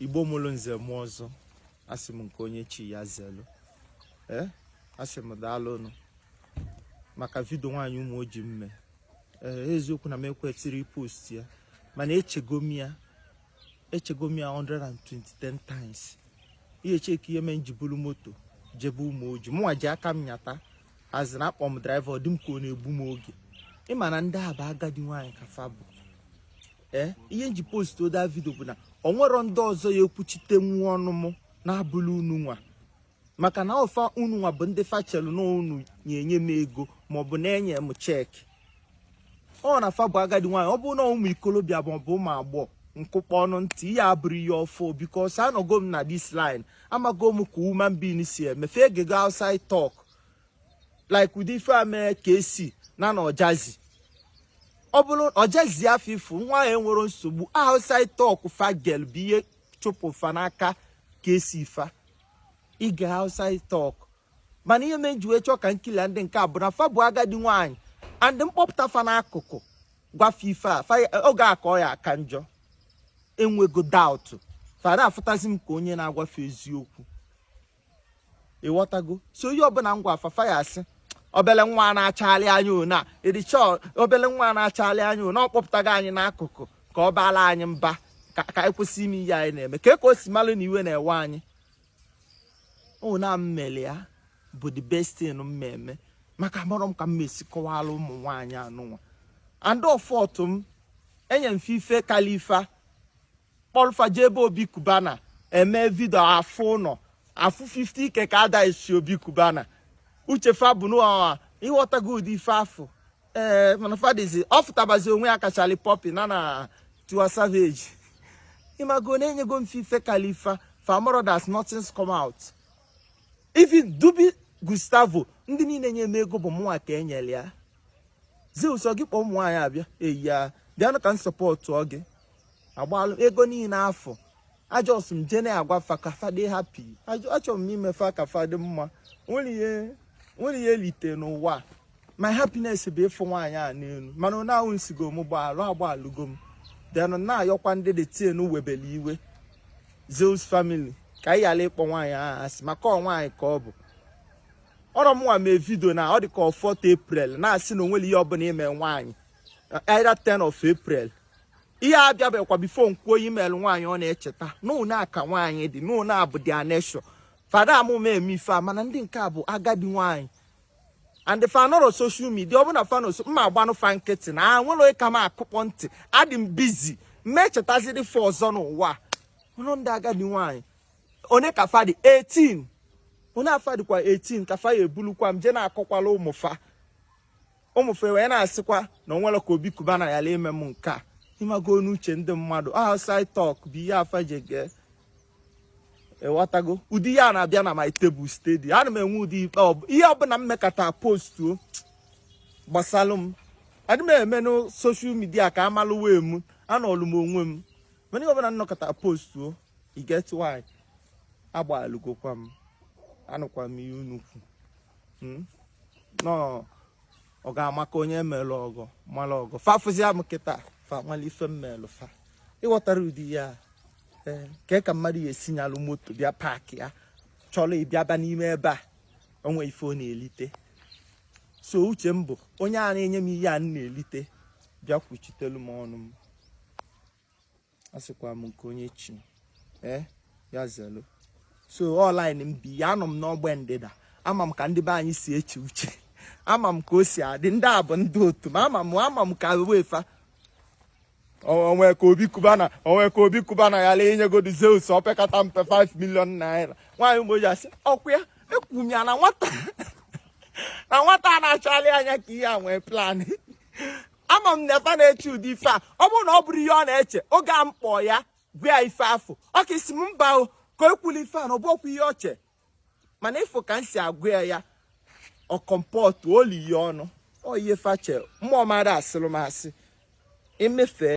igbo mụrụ nze mụọ ọzọ asị m nke onye chi ya zelu ee eh, asị m daalụnụ maka vidio nwaanyị ụmụoji m mee ee eh, eziokwu na m ekwetiri post ya mana echego m ya echego m ya 120 times ihe cheki ihe mee m ji bulu moto jebe ụmụoji mụnwa ji aka m nyata asị na akpọ m draiva ọ dị m ka ọ na-egbu m oge ị ma na ndị a bụ agadi nwaanyị ka fa bụ ee ihe m ji post other vidio bụ na o nwerọ ndị ọzọ ya-ekwuchite nwa ọnụ m na-abụla unu nwa maka na ọfa unu nwa bụ ndị fa chelu na unu na-enye m ego maọbụ na-enye m cheki ọ na fa bụ agadi nwaanyị ọ bụrụ na ụmụ ikolobịa maọbụ ụmụ agbọghọ nkụkpọ ọnụ ntị ihe abụrụ ihe ọfụụ because anọgo m na this line amago m ka human being si eme fa egego outside talk like ụdị ife a mere kcee na na ojazzy ọ bụrụ ojazzy afụ ifu nwa ya enwerọ nsogbu outside talk fa gelụ bụ ihe chụpụ fa n'aka kcee fa egee outside talk mana ihe mee m ji wee chọọ ka m kili ndị nke a bụ na fa bụ agadi nwaanyị and m kpọpụta fa n'akụkụ gwa fa ife a oge a ka ọ ya aka njọ enwego doubt fa da-afụtazi m ka onye na-agwa fa eziokwu ị ghọtago so onye ọbụla m gwa fa fa ya-asị obele nwa na-achagharị anya ona ịdịcha obele nwa na-achagharị anya ona ọ kpọpụtago anyị n'akụkụ ka ọ baala anyị mba ka anyị kwụsị ime ihe anyị na-eme ka ka o si malụ na iwe na-ewe anyị ọ na m mere ya bụ the best thing m ma eme maka amarọ m ka m ma-esi kọwara ụmụ nwaanyị anụnwa and ọfọtụ m enye m fa ife kalị fa kpọrọ fa jee ebe obi cubana eme vidio afụ ụlọ afụ 50k ka ada esi obi cubana uche fa bụ n'ụwa ị ghọtago ụdị ife afụ ee mana fa dịzi ọ fụtabazi onwe ya ka shallipopi na na tiwa savage ị mago na enyego m fa ife kalị fa fa amarọ that's nothing's come out even dubby gustavo ndị niile nye m ego bụ mụnwa ka enyere ya zeus ọ gị kpọọ ụmụ nwaanyị a bịa eyi ya bịanụ ka m sọpọtụọ gị agbalụ ego niile afụ a just m jee na-agwa fa ka fa dị happy achọrọ m ime fa ka fa dị mma nwere ihe e lite n'ụwa my happiness bụ ịfụ nwaanyị a n'elu mana ọ na-ahụ nsigo m gbaalụ agbaalụgo m denụ na-ayọkwa ndị dị tin webele iwe Zeus family ka anyị ghara ịkpọ nwaanyị ahụ asị maka ọ nwaanyị ka ọ bụ ọrọ mụnwa mee vidio na ọ dị ka ọ 4 April na-asị na onwere ihe ọbụla ime nwaanyị either 10 of April ihe abịabekwa before m kwuo i meelụ nwaanyị ọ na-echeta n'ụna aka nwaanyị dị n'ụna abụ dị aneshọ fada amụma eme ife a mana ndị nke a bụ agadi nwaanyị and fa anọrọ social media ọ bụ na fanoso mma agbanụ fa nkịtị na a nwere ka m akụkpọ ntị adị m bizi m echetaziri fa ọzọ n'ụwa ụlọ ndị agadi nwaanyị onye ka fa dị 18 onye afa dịkwa 18 ka fa ya ebulukwa m je na-akọkwala ụmụ fa ụmụ fa wee na-asịkwa na o nwere ka obi cubana ya ime m nke a ịmago n'uche ndị mmadụ outside talk bụ ihe afa ji ege ịghọtago ụdị ihe a na-abịa na my table steady ana m enwe ụdị ikpe ihe ọbụla m mekata postuo gbasalụ m adị m eme na social media ka a malụ wee m anọlụ m onwe m mana ihe ọbụla m nọkata postuo e get why agbalụgokwa m anụkwa m ihe unu kwu hmm? no ọ ga-amaka onye e melụ ọgọ mara ọgọ fa fụzia m kịta fa malụ ife m melụ fa ịghọtara ụdị ya ee ka ka mmadụ ya esi nyalụ moto bịa paakị ya chọrọ ịbịaba n'ime ebe a o nwe ife ọ na-elite so uche m bụ onye a na-enye m ihe a m na-elite bịa kwuchitelu m ọnụ m asịkwa m nke onye chi ee eh, ya zelu so online m bi ya anọ m n'ọgbe ndịda ama m ka ndị be anyị si eche uche ama m ka o si adị ndị a bụ ndị otu m ama m ama m ka wefa o nwe ka obi cubana o nwe ka obi cubana ya ala inyegodi zeus opekata mpe 5 million naira nwaanyị mgbe o ji asị ọkwa ya ekwuru m ya na nwata na nwata na-achali anya ka ihe a nwee plan ama m na efa na-eche ụdị ife a ọ bụrụ na ọ bụrụ ihe ọ na-eche oge a m kpọọ ya gwa ya ife afụ ọ ka-asị m mba o ka o kwuli ife a na ọ bụkwa ihe ọ che mana ịfụ ka m si agwa ya ya ọ comportụ o lie ọnụ ọ ihe fa che mmụọ mara asịrị m asị emefe